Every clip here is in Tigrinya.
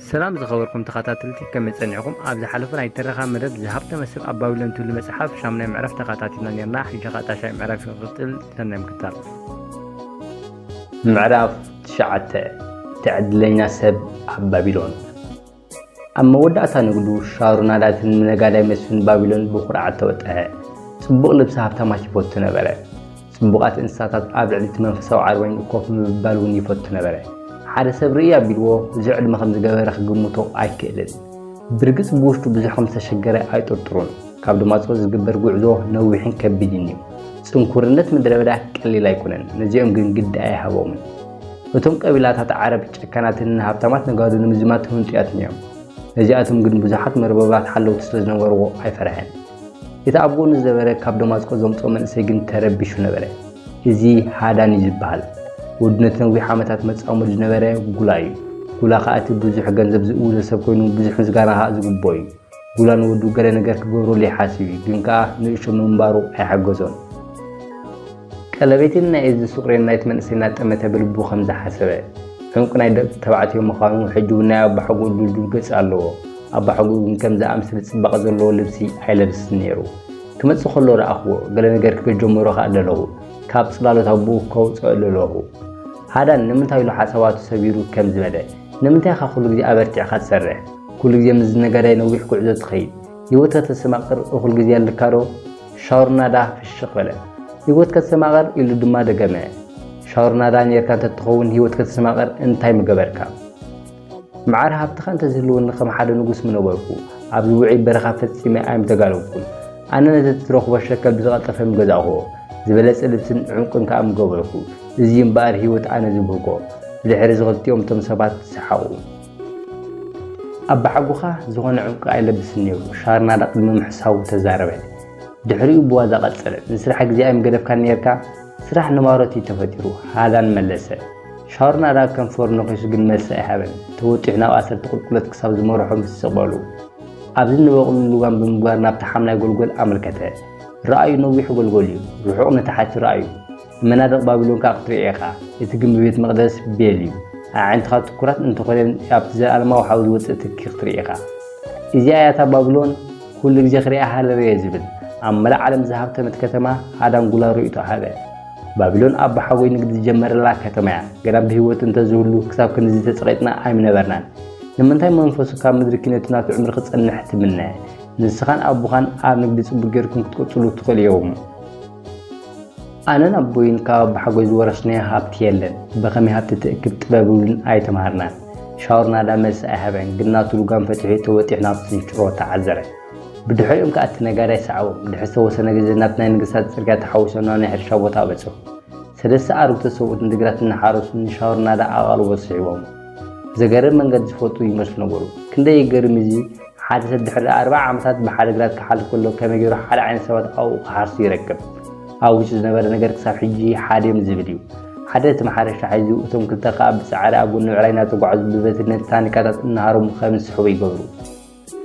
ሰላም ዝኸበርኩም ተኸታተልቲ ከመይ ጸኒዕኹም ኣብ ዝሓለፈ ናይ ትረኻ መደብ ዝሃብተመ ሰብ ኣብ ባቢሎን ትብሉ መጽሓፍ ሻሙናይ ምዕራፍ ተኸታቲልና ኔርና ሕጂ ኸኣ ታሻይ ምዕራፍ ይቕጽል ሰናይ ምክታል ምዕራፍ ትሽዓተ ትዕድለኛ ሰብ ኣብ ባቢሎን ኣብ መወዳእታ ንግዱ ሻሩናዳትን ነጋዳይ መስፍን ባቢሎን ብኩርዓት ተወጠዐ። ጽቡቕ ልብሲ ሃብታማት ይፈቱ ነበረ። ጽቡቓት እንስሳታት ኣብ ልዕሊ እቲ መንፈሳዊ ዓርባይንኡ ኮፍ ምብባል እውን ይፈቱ ነበረ። ሓደ ሰብ ርእይ ኣቢልዎ ብዙሕ ዕድመ ከም ዝገበረ ክግምቶ ኣይክእልን። ብርግጽ ብውሽጡ ብዙሕ ከም ዝተሸገረ ኣይጥርጥሩን። ካብ ድማጽኦ ዝግበር ጉዕዞ ነዊሕን ከቢድን እዩ። ጽንኩርነት ምድረ በዳ ቀሊል ኣይኮነን፣ ነዚኦም ግን ግዲ ኣይሃቦምን። እቶም ቀቢላታት ዓረብ ጨካናትን ንሃብታማት ነጋዶ ንምዝማት ህንጡያትን እዮም። ነዚኣቶም ግን ብዙሓት መርበባት ሓለውቲ ስለ ዝነበርዎ ኣይፈርሐን። እቲ ኣብ ጎኑ ዝነበረ ካብ ደማስቆ ዘምጽኦ መንእሰይ ግን ተረቢሹ ነበረ። እዚ ሃዳን እዩ ዝበሃል ወዱ ነቲ ነዊሕ ዓመታት መጻምዱ ዝነበረ ጉላ እዩ። ጉላ ከኣ እቲ ብዙሕ ገንዘብ ዝእውዞ ሰብ ኮይኑ ብዙሕ ምስጋና ከኣ ዝግብኦ እዩ። ጉላ ንወዱ ገለ ነገር ክገብረሉ ይሓስብ እዩ፣ ግን ከኣ ንእሽቶ ምንባሩ ኣይሓገዞን። ቀለቤቴን ናይ እዚ ሱቕሬን ናይቲ መንእሰይ እናጠመተ ብልቡ ከም ዝሓሰበ፣ ዕንቊ ናይ ደቂ ተባዕትዮ ምዃኑ ሕጂ እውን ናይ ኣባሓጎኡ ድልዱል ገጽ ኣለዎ። ኣባሓጎኡ ግን ከምዚ ዝኣመሰለ ጽባቐ ዘለዎ ልብሲ ኣይለብስን ነይሩ። ክመጽእ ከሎ ረኣኹዎ፣ ገለ ነገር ክብል ጀመሮ ከኣ ደለኹ። ካብ ጽላሎት ኣቦኡ ከውጽኦ ደለኹ። ሃዳን ንምንታይ ኢሉ ሓሳባቱ ሰቢሩ ከምዚ በለ፣ ንምንታይ ኢኻ ኩሉ ግዜ ኣበርቲዕካ ትሰርሕ? ኩሉ ግዜ ምስዚ ነጋዳይ ነዊሕ ጉዕዞ ትኸይድ? ህይወትካ ተሰማቕር እኹል ግዜ ኣለካዶ? ሻውርናዳ ፍሽኽ በለ። ህይወት ከተሰማቕር ኢሉ ድማ ደገመ። ሻውርናዳ ኔርካ እንተትኸውን ህይወት ከተሰማቕር እንታይ ምገበርካ? መዓር ሃብትኻ እንተዝህልወኒ ከም ሓደ ንጉስ ምነበርኩ። ኣብዚ ውዑይ በረኻ ፈጺመ ኣይምተጋለብኩን። ኣነ ነቲ እትረኽቦ ሸከል ብዝቐልጠፈ ምገዛእኩዎ። ዝበለጸ ልብስን ዑንቅን ከኣ ምገበርኩ። እዚ'ዩ እምበኣር ህይወት ኣነ ዝብህጎ። ብድሕሪ እዚ ክልቲኦም እቶም ሰባት ሰሓቑ። ኣባሓጎኻ ዝኾነ ዕንቊ ኣይለብስን ነይሩ፣ ሻርናዳ ቅድሚ ምሕሳዉ ተዛረበ። ድሕሪኡ ብዋዛ ቀጸለ፣ ንስራሕ ግዜ ኣይምገደፍካን ነይርካ? ስራሕ ንማሮት እዩ ተፈጢሩ፣ ሃላን መለሰ። ሻርናዳ ከንፈሩ ነኺሱ ግን መልሲ ኣይሃበን። ተወጢሑ ናብ ኣሰርቲ ቁልቁለት ክሳብ ዝመርሖ ምስ ስቕ በሉ፣ ኣብዚ ንበቕሉ ልጓም ብምግባር ናብቲ ሓምላይ ጎልጎል ኣመልከተ። ርኣዩ ነዊሕ ጎልጎል እዩ፣ ርሑቕ ንታሕቲ ርኣዩ። መናድቕ ባቢሎን ከኣ ክትርኢ ኢኻ፣ እቲ ግምቢ ቤት መቕደስ ቤል እዩ፣ ኣዕይንትኻ ትኩራት እንተ ዀነን ኣብቲ ዘለኣለማዊ ሓዊ ዝወጽእ ትኪ ክትርኢ ኢኻ። እዚኣ እያ እታ ባቢሎን ኵሉ ግዜ ክርእያ ሃረር እየ ዝብል፣ ኣብ መላእ ዓለም ዝሃብተመት ከተማ ሃዳንጕላ ርእይቶ ሃበ። ባቢሎን ኣቦሓጎይ ንግዲ ዝጀመረላ ከተማ እያ፣ ግና ብህይወት እንተ ዝህሉ ክሳብ ክንድዚ ተጸቒጥና ኣይምነበርናን። ንምንታይ መንፈሱ ካብ ምድሪ ኪነቱ ናብቲ ዕምሪ ክጸንሕ ትምነ? ንስኻን ኣቦኻን ኣብ ንግዲ ጽቡቕ ጌርኩም ክትቅጽሉ ትኽእሉ ኢኹም። ኣነን ኣቦይን ካብ ኣቦሓጎይ ዝወረስናዮ ሃብቲ የለን ብከመይ ሃብቲ ትእክብ ጥበብ እዉን ኣይተማሃርናን ሻዉር ናዳ መልሲ ኣይሃበን ግን ናቱ ልጓም ፈቲሑ ተወጢሑ ናብቲ ዝጭሮ ተዓዘረ ብድሕሪኦም ከኣ እቲ ነጋዳይ ሰዓቦም ድሕሪ ዝተወሰነ ግዜ ናብቲ ናይ ነገስታት ጽርግያ ተሓዊሶም ናብ ናይ ሕርሻ ቦታ በጽሑ ሰለስተ ኣርጉተ ሰብኡት ንድግራት እናሓረሱ ንሻዉር ናዳ ኣቓልቦ ስሒቦሞ ዘገርም መንገዲ ዝፈልጡ ይመስሉ ነበሩ ክንደይ ይገርም እዚ ሓደ ሰብ ድሕሪ ኣርብዓ ዓመታት ብሓደ ግራት ክሓልፍ ከሎ ከመይ ገይሩ ሓደ ዓይነት ሰባት ኣብኡ ክሓርሱ ይረክብ? ኣብ ውሽጡ ዝነበረ ነገር ክሳብ ሕጂ ሓደዮም ዝብል እዩ። ሓደ እቲ ማሕረሻ ሒዙ እቶም ክልተ ከኣ ብጻዕሪ ኣብ ጎኒ ብዕራይ እናተጓዕዙ ብበትሪ ነቲ ታኒካታት እናሃረሙ ከም ዝስሕቡ ይገብሩ።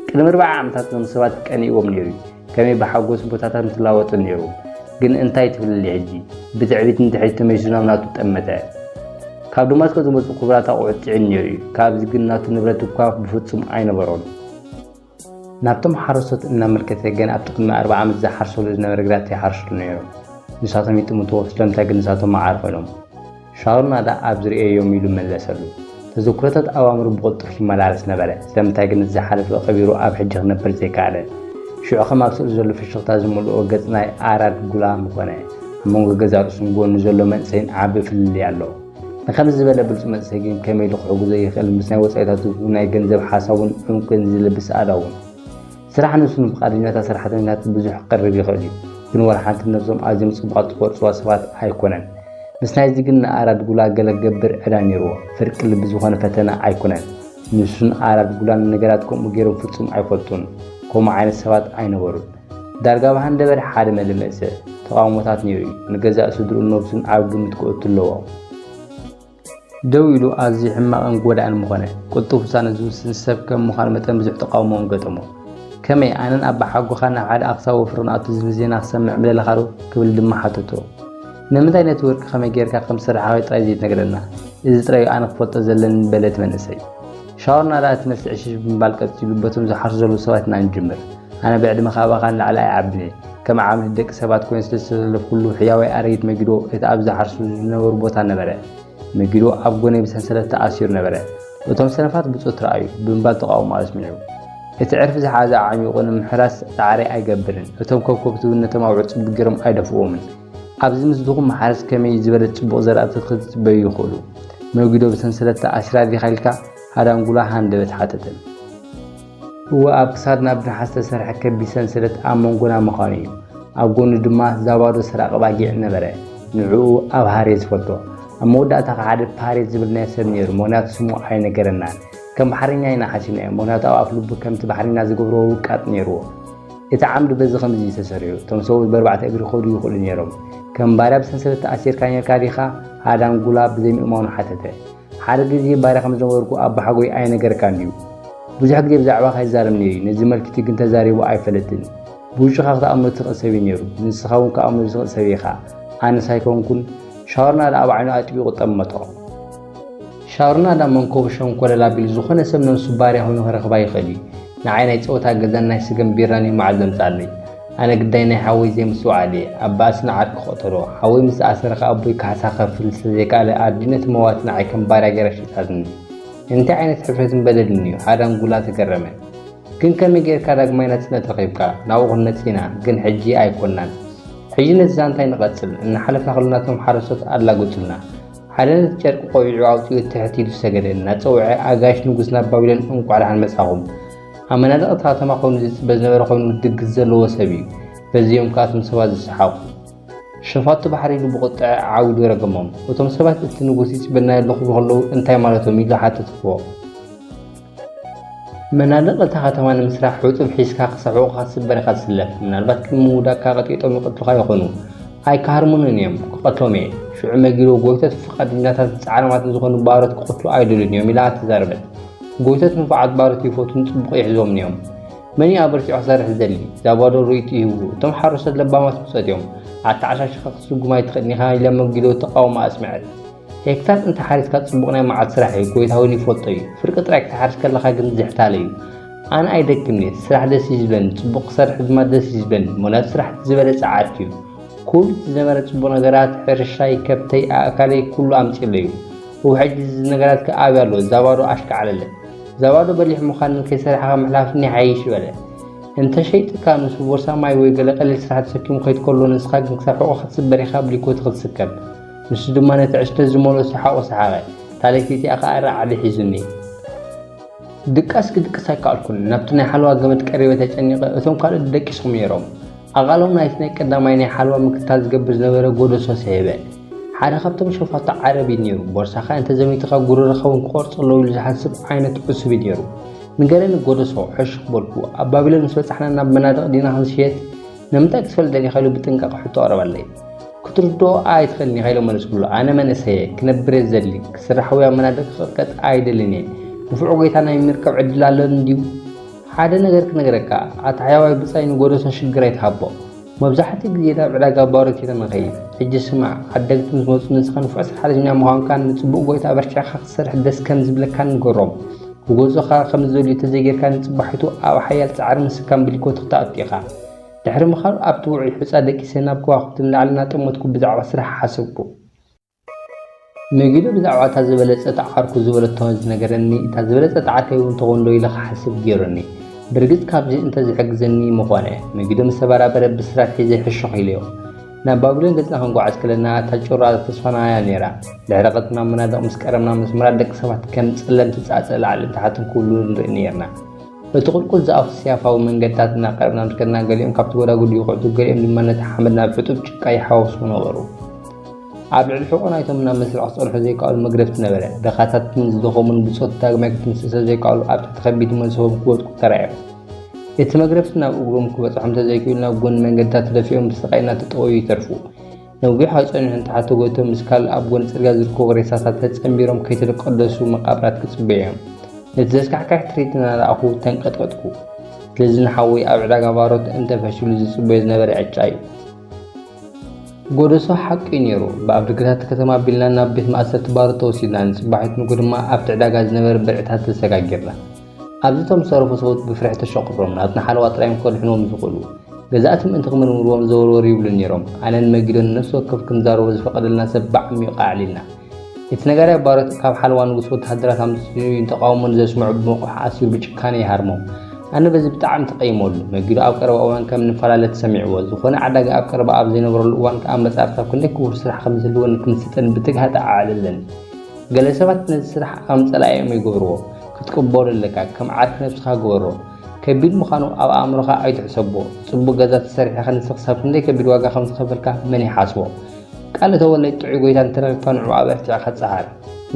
ቅድሚ ኣርብዓ ዓመታት እዞም ሰባት ቀኒእዎም ነይሩ እዩ። ከመይ ብሓጎስ ቦታታት ምትላወጡ ነይሩ ግን እንታይ ትብልሊ ሕጂ ብትዕቢት ንድሕሪት ተመሊሱ ናብ ናቱ ጠመተ ካብ ደማስቆ ዝመፁ ክቡራት ኣቑሑት ፅዒኑ ነይሩ እዩ ካብዚ ግን ናቱ ንብረት እኳ ብፍፁም ኣይነበሮን ናብቶም ሓረስቶት እናመልከተ ገና ኣብቲ ቅድሚ ኣርባ ዓመት ዝሓርሰሉ ዝነበረ ግራት ይሓርስሉ ነይሮም። ንሳቶም ይጥምትዎ ስለምንታይ ግን ንሳቶም መዓር ኮይኖም። ሻውል ናዳ ኣብዚ ርእየዮም ኢሉ መለሰሉ። ተዘክሮታት ኣእምሩ ብቕልጡፍ ይመላለስ ነበረ፣ ስለምንታይ ግን እቲ ዝሓለፈ ቀቢሩ ኣብ ሕጂ ክነብር ዘይከኣለ? ሽዑ ከም ኣብ ስእሊ ዘሎ ፍሽኽታ ዝመልኦ ገጽ ናይ ኣራድ ጉላም ኮነ። ኣብ መንጎ ገዛእ ርእሱን ጎኑ ዘሎ መንእሰይን ዓቢ ፍልልይ ኣሎ። ንኸምዚ ዝበለ ብሉጽ መንእሰይ ግን ከመይ ኢሉ ክሕግዞ ይኽእል ምስ ናይ ወጻኢታቱ ናይ ገንዘብ ሓሳቡን ዑንቅን ዝልብስ ኣእዳዉን? ስራሕ ነብሱ ንፍቓደኛታት ሰራሕተኛታት ብዙሕ ክቐርብ ይኽእል እዩ፣ ግን ዋላ ሓንቲ ነብሶም ኣዝዮም ጽቡቓት ዝቖጽርዋ ሰባት ኣይኮነን። ምስ ናይዚ ግን ንኣራድ ጉላ ገለ ክገብር ዕዳ ነይርዎ። ፍርቂ ልቢ ዝኾነ ፈተነ ኣይኩነን። ንሱን ኣራድ ጉላን ነገራት ከምኡ ገይሮም ፍጹም ኣይፈልጡን። ከምኡ ዓይነት ሰባት ኣይነበሩን። ዳርጋ ኣብ ሃንደበት ሓደ መደመኢ ሰብ፣ ተቓውሞታት ነይሩ እዩ። ንገዛእ ስድርኡን ነብሱን ኣብ ግምት ከእቱ ኣለዎ። ደው ኢሉ ኣዝዩ ሕማቕን ጎዳእን ምኾነ። ቅልጡፍ ውሳነ ዝውስን ሰብ ከም ምዃኑ መጠን ብዙሕ ተቓውሞ'ውን ገጠሞ። ከመይ ኣነን ኣባሓጎኻን ናብ ሓደ ኣኽሳብ ወፍሪ ክንኣቱ ዝብል ዜና ክሰምዕ ምደለኻዶ? ክብል ድማ ሓተቶ። ንምንታይ ነቲ ወርቂ ከመይ ጌርካ ከም ዝስርሓካዮ ጥራይ ዘይትነግረና? እዚ ጥራይ'ዩ ኣነ ክፈልጦ ዘለኒ በለ እቲ መንእሰይ። ሻወር ናዳ እቲ መልሲ ዕሽሽ ብምባል ቀጺሉ በቶም ዝሓርሱ ዘለዉ ሰባት ኢና ንጅምር። ኣነ ብዕድመ ካባኻ ንላዕሊ ኣይዓብን እየ። ከም ዓቕሚ እቲ ደቂ ሰባት ኮይነ ስለ ዝተሰለፍኩሉ ሕያዋይ ኣረጊት መጊዶ እቲ ኣብ ዝሓርሱ ዝነበሩ ቦታ ነበረ። መጊዶ ኣብ ጎነይ ብሰንሰለት ተኣሲሩ ነበረ። እቶም ሰነፋት ብጾት ረኣዩ! ብምባል ተቓውሞ ኣስሚዑ። እቲ ዕርፊ ዝሓዘ ኣዕሚቑ ንምሕራስ ጻዕሪ ኣይገብርን። እቶም ከብከብቲ እውን ነቶም ኣብ ዕጹብ ገይሮም ኣይደፍእዎምን። ኣብዚ ምስድኹም መሓረስ ከመይ ዝበለ ጽቡቕ ዘራእቲ ክትጽበዩ ይኽእሉ? መጒዶ ብሰንሰለት ተኣሲራ ዲኻ ኢልካ ሃዳንጉላ ሃንደበት ሓተተን። እወ፣ ኣብ ክሳድና ብነሓስ ዝተሰርሐ ከቢድ ሰንሰለት ኣብ መንጎና ምዃኑ እዩ። ኣብ ጎኑ ድማ ዛባዶ ሰራቒ ኣባጊዕ ነበረ፣ ንዕኡ ኣብሃር እየ ዝፈልጦ። ኣብ መወዳእታ ከኣ ሓደ ፓሬት ዝበልናዮ ሰብ ነይሩ፣ ምኽንያቱ ስሙ ኣይነገረናን። ከም ባሕረኛ ኢና ሓሲብናዮ፣ ምኽንያቱ ኣብ ኣፍልቡ ከምቲ ባሕረኛ ዝገብሮ ውቃጥ ነይርዎ። እቲ ዓምዲ በዚ ከምዚ እዩ ተሰሪዑ። እቶም ሰብኡት በርባዕተ እግሪ ክኸዱ ይኽእሉ ነይሮም። ከም ባርያ ብሰንሰለት ተኣሲርካ ነይርካ ዲኻ? ሃዳንጉላ ብዘይምእማኑ ሓተተ። ሓደ ግዜ ባርያ ከም ዝነበርኩ ኣቦሓጎይ ኣይነገረካን ድዩ? ብዙሕ ግዜ ብዛዕባኻ ይዛረብ ነይሩ እዩ፣ ነዚ መልክቲ ግን ተዛሪቡ ኣይፈለጥን። ብውሽኻ ክትኣምኖ እትኽእል ሰብ እዩ ነይሩ፣ ንስኻ እውን ክኣምኖ ዝኽእል ሰብ ኢኻ። ኣነስ ኣይኮንኩን። ሻውርና ደኣ ብዓይኑ ኣጥቢቑ ጠመቶ። ሻሩና ዳ መንኮቡ ሸንኮለል ኣቢሉ ዝኾነ ሰብ ነብሱ ባርያ ኮይኑ ከረክባ ይኽእል እዩ ንዓይ ናይ ጸወታ ገዛን ናይ ስገም ቢራን እዩ መዓት ዘምጽኣለይ ኣነ ግዳይ ናይ ሓወይ ዘይምስትውዓል እየ ኣብ ባእሲ ንዓርኪ ክቅተሎ ሓወይ ምስ ተኣሰረ ከኣ ኣቦይ ካሕሳ ክከፍል ስለ ዘይከኣለ ኣዲኡ ነቲ መዋቲ ንዓይ ከም ባርያ ጌራ ሸይጣትኒ እንታይ ዓይነት ሕፍረትን በደልን እዩ ሓዳንጉላ ተገረመ ግን ከመይ ጌርካ ዳግማይ ናጽነት ረኺብካ ናብኡ ክንመጽእ ኢና ግን ሕጂ ኣይኮናን ሕጂ ነቲ ዛንታ ኣይንቀጽል እናሓለፍና ከሎና እቶም ሓረስቶት ኣላግጹልና ሓደ ነቲ ጨርቂ ቆቢዑ ኣውጺኡ ትሕት ኢሉ ሰገደ። እናጸውዐ፣ ኣጋይሽ ንጉስ ናብ ባቢሎን እንቋዕ ደሓን መጻኹም። ኣብ መናድቕ እታ ከተማ ኮይኑ ዝጽበ ዝነበረ ኮይኑ ድግስ ዘለዎ ሰብ እዩ። በዚ እዮም ከኣ እቶም ሰባት ዝሰሓቑ። ሸፋቱ ባሕሪ ኢሉ ብቑጥዐ ዓዊዱ ረገሞም። እቶም ሰባት እቲ ንጉስ ይጽበና ኣለኹ ኢሉ ከለዉ እንታይ ማለቶም ኢሉ ሓተትዎ። መናድቕ እታ ከተማ ንምስራሕ ሕጡብ ሒዝካ ክሳብ ሕቖኻ ትስበር ኢኻ ትስለፍ። ምናልባት ቅድሚ ምውዳቕካ ቀጥቂጦም ይቐትሉኻ ይኾኑ። ኣይክሃርሙንን እዮም፣ ክቐትሎም እየ። ሽዑ መጊዶ ጎይቶት ፍቓደኛታትን ጻዕራማትን ዝኾኑ ባሮት ክቕትሉ ኣይደልዩን እዮም ኢላ ተዛረበት። ጎይቶት ንፉዓት ባሮት ይፈትዉን ጽቡቕ ይሕዝዎምን እዮም። መን እዩ ኣበርቲዑ ክሰርሕ ዝደሊ? ዛባዶ ርእይቶ ይህቡ፣ እቶም ሓረስቶት ለባማት ብጾት እዮም። ኣተዓሻሺኻ ክትስጉም ኣይትኽእልን ኢኻ ኢላ መጊዶ ተቓውሞኣ ኣስመዐት። ሄክታር እንተ ሓሪስካ ጽቡቕ ናይ መዓልቲ ስራሕ እዩ ጎይታ ውን ይፈልጦ እዩ ፍርቂ ጥራይ ክትሓርስ ከለኻ ግን ዝሕታለ እዩ ኣነ ኣይደክምን እየ ስራሕ ደስ እዩ ዝብለኒ ጽቡቕ ክሰርሕ ድማ ደስ እዩ ዝብለኒ ምክንያቱ ስራሕ እቲ ዝበለጸ ዓርኪ እዩ ኩሉ እቲ ዝነበረ ጽቡቕ ነገራት ሕርሻይ ከብተይ ኣእካለይ ኩሉ ኣምጺለይ እዩ እው ሕጂ እዚ ነገራት ከ ኣበይ ኣሎ ዛባዶ ኣሽካዕለለ ዛባዶ በሊሕ ምዃንን ከይሰራሕኻ ምሕላፍን ይሓይሽ በለ እንተ ሸይጥካ ንሱ ቦርሳ ማይ ወይ ገለ ቀሊል ስራሕ ተሰኪሙ ከይድ ከሎ ንስኻ ግን ክሳብ ሕቖ ክትስበር ኢኻ ብሊኮቲ ክትስከብ ንሱ ድማ ነቲ ዕሽተት ዝመልኦ ሰሓቑ ሰሓቐ። ታሌፊቲኣ ከኣ ራዕዲ ሒዙኒ። ድቃስ ክድቅስ ኣይከኣልኩን። ናብቲ ናይ ሓለዋ ገመድ ቀሪበ ተጨኒቐ፣ እቶም ካልኦት ደቂሶም ነይሮም። ኣቓልቦም ናይቲ ናይ ቀዳማይ ናይ ሓለዋ ምክትታል ዝገብር ዝነበረ ጎዶሶ ሰሔበ። ሓደ ካብቶም ሸፋቱ ዓረብ እዩ ነይሩ። ቦርሳኻ እንተ ዘሚትኻ ጉረረኻ እውን ክቖርጾ ኣለዉ ኢሉ ዝሓስብ ዓይነት ዕሱብ እዩ ነይሩ። ንገረኒ ጎዶሶ፣ ሕሹኽ በልኩ። ኣብ ባቢሎን ምስ በጻሕና ናብ መናድቕ ዲና ክንሽየጥ? ንምንታይ ክትፈልጥ ደሊኻ ኢሉ ብጥንቃቐ ሕቶ ኣቕረበለይ። ክትርድኦ ኣይትኽእልን ኢኻ ኢለ መለስኩሉ። ኣነ መንእሰይ እየ፣ ክነብር እየ ዝደሊ፣ ክስራሕ ወይ ኣብ መናድቕ ክቕጥቀጥ ኣይደልን እየ። ንፉዕ ጐይታ ናይ ምርካብ ዕድል ኣሎኒ ድዩ? ሓደ ነገር ክነግረካ፣ ኣታ ሕያዋይ ብጻይ ንጎዶሶ ሽግር ኣይትሃቦ። መብዛሕትኡ ግዜ ናብ ዕዳጋ ባሮት እየ ተመኸይድ። ሕጂ ስማዕ፣ ዓደግቲ ምስ መጹ ንስኻ ንፉዕ ሰራሕተኛ ምዃንካን ንጽቡቕ ጐይታ ኣበርቲዕካ ክትሰርሕ ደስ ከም ዝብለካን ንገሮም። ክጎዞኻ ከም ዝደልዩ ተዘይጌርካ ንጽባሒቱ ኣብ ሓያል ጻዕሪ ምስካም ብሊኮት ክትኣቱ ኢኻ። ድሕሪ ምኻኑ ኣብቲ ውዑይ ሑጻ ደቂሰ ናብ ከዋኽብቲ ንላዕሊ እናጠመትኩ ብዛዕባ ስራሕ ሓሰብኩ። መጊዶ ብዛዕባ እታ ዝበለጸት ዓርኩ ዝበለቶ ዝነገረኒ እታ ዝበለጸት ዓርከይ እውን ትኾንዶ ኢለ ክሓስብ ጌሩኒ። ብርግጽ ካብዚ እንተዝሕግዘኒ ምኾነ። መጊዶ ምስ ተበራበረ ብስራት ሒዘ ሕሹኽ ኢለዮ። ናብ ባቢሎን ገጽና ክንጓዓዝ ከለና እታ ጩራ ተስፋና እያ ነይራ። ድሕሪ ቀትርና መናድቕ ምስ ቀረብና መስመራት ደቂ ሰባት ከም ጸለምቲ ጻጸ ላዕልን ታሕትን ክብሉ ንርኢ ነይርና። በቲ ቁልቁል ዝኣፉ ስያፋዊ መንገድታት እናቀረብና ምስ ከድና ገሊኦም ካብቲ ጎዳጉዲ ይኹዕቱ ገሊኦም ድማ ነቲ ሓመድ ናብ ሕጡብ ጭቃ ይሓዋውስዎ ነበሩ። ኣብ ልዕሊ ሕቖ ናይቶም ናብ መስርዕ ክጸንሑ ዘይከኣሉ መግረፍቲ ነበረ። ድኻታትን ዝደኸሙን ብጾት ዳግማይ ክትንስእ ስለዘይከኣሉ ኣብ ትሕቲ ከቢድ መንሰቦም ክወድቁ ተራእዮም። እቲ መግረፍቲ ናብ እግሮም ክበፅሖም እንተዘይክኢሉ ናብ ጎኒ መንገድታት ተደፊኦም ብስቓይ እናተጠወዩ ይተርፉ። ነዊሕ ኣብ ፀኒሑ ንታሕቲ ተጎቲቶም ምስ ካልእ ኣብ ጎኒ ፅርግያ ዝርከቡ ሬሳታት ተፀምቢሮም ከይተቀደሱ መቓብራት ክፅበዩ እዮም። ነቲ ዘስካሕክሕ ትርኢት እናረኣኹ ተንቀጥቀጥኩ። ስለዚ ንሓወይ ኣብ ዕዳጋ ባሮት እንተፈሽሉ ዝፅበዮ ዝነበረ ዕጫ እዩ። ጎደሶ ሓቂ እዩ ነይሩ። ብኣፍ ደገታት ከተማ ኣቢልና ናብ ቤት ማእሰርቲ ባሮት ተወሲድና፣ ንፅባሒቱ ንግሆ ድማ ኣብቲ ዕዳጋ ዝነበረ ብርዕታት ተሰጋጊርና። ኣብዚ እቶም ዝተረፉ ሰብኡት ብፍርሒ ተሸቑሮም ናብቲ ንሓለዋ ጥራይ እዮም ከድሕንዎም ዝኽእሉ። ገዛእቲ ምእንቲ ክምርምርዎም ዘወርወር ይብሉ ነይሮም። ኣነን መጊዶን ንነፍሲ ወከፍ ክንዛረቦ ዝፈቐደልና ሰብ ብዓሚዩቕ ኣዕሊልና። እቲ ነጋዳይ ባሮት ካብ ሓለዋ ንጉስ ወተሃደራት ኣምጺኡን ተቓውሞን ዘስምዑ ብመቑሕ ኣሲሩ ብጭካነ ይሃርሞም። ኣነ በዚ ብጣዕሚ ተቐይመሉ። መጊዶ ኣብ ቀረባ እዋን ከም ንፈላለ ተሰሚዕዎ። ዝኾነ ዓዳጊ ኣብ ቀረባ ኣብ ዘይነበረሉ እዋን ክኣመጻ ክሳብ ክንደይ ክቡር ስራሕ ከም ዝህልወኒ ክምስጥን ብትግሃት ኣዕልለኒ። ገለ ሰባት ነዚ ስራሕ ከም ጸላኢኦም ይገብርዎ። ክትቅበሎ ኣለካ ከም ዓርኪ ነብስካ ግበሮ ከቢድ ምካኑ ኣብ ኣእምሮካ ኣይትሕሰቦ ጽቡቅ ገዛ ተሰሪሕካ ንስኪ ክሳብ ክንደይ ከቢድ ዋጋ ከም ዝከፈልካ መን ይሓስቦ ቃል እተወለይ ጥዑይ ጎይታ እንተረኪብካ ንዕኡ ኣበርቲዕካ ጸዓር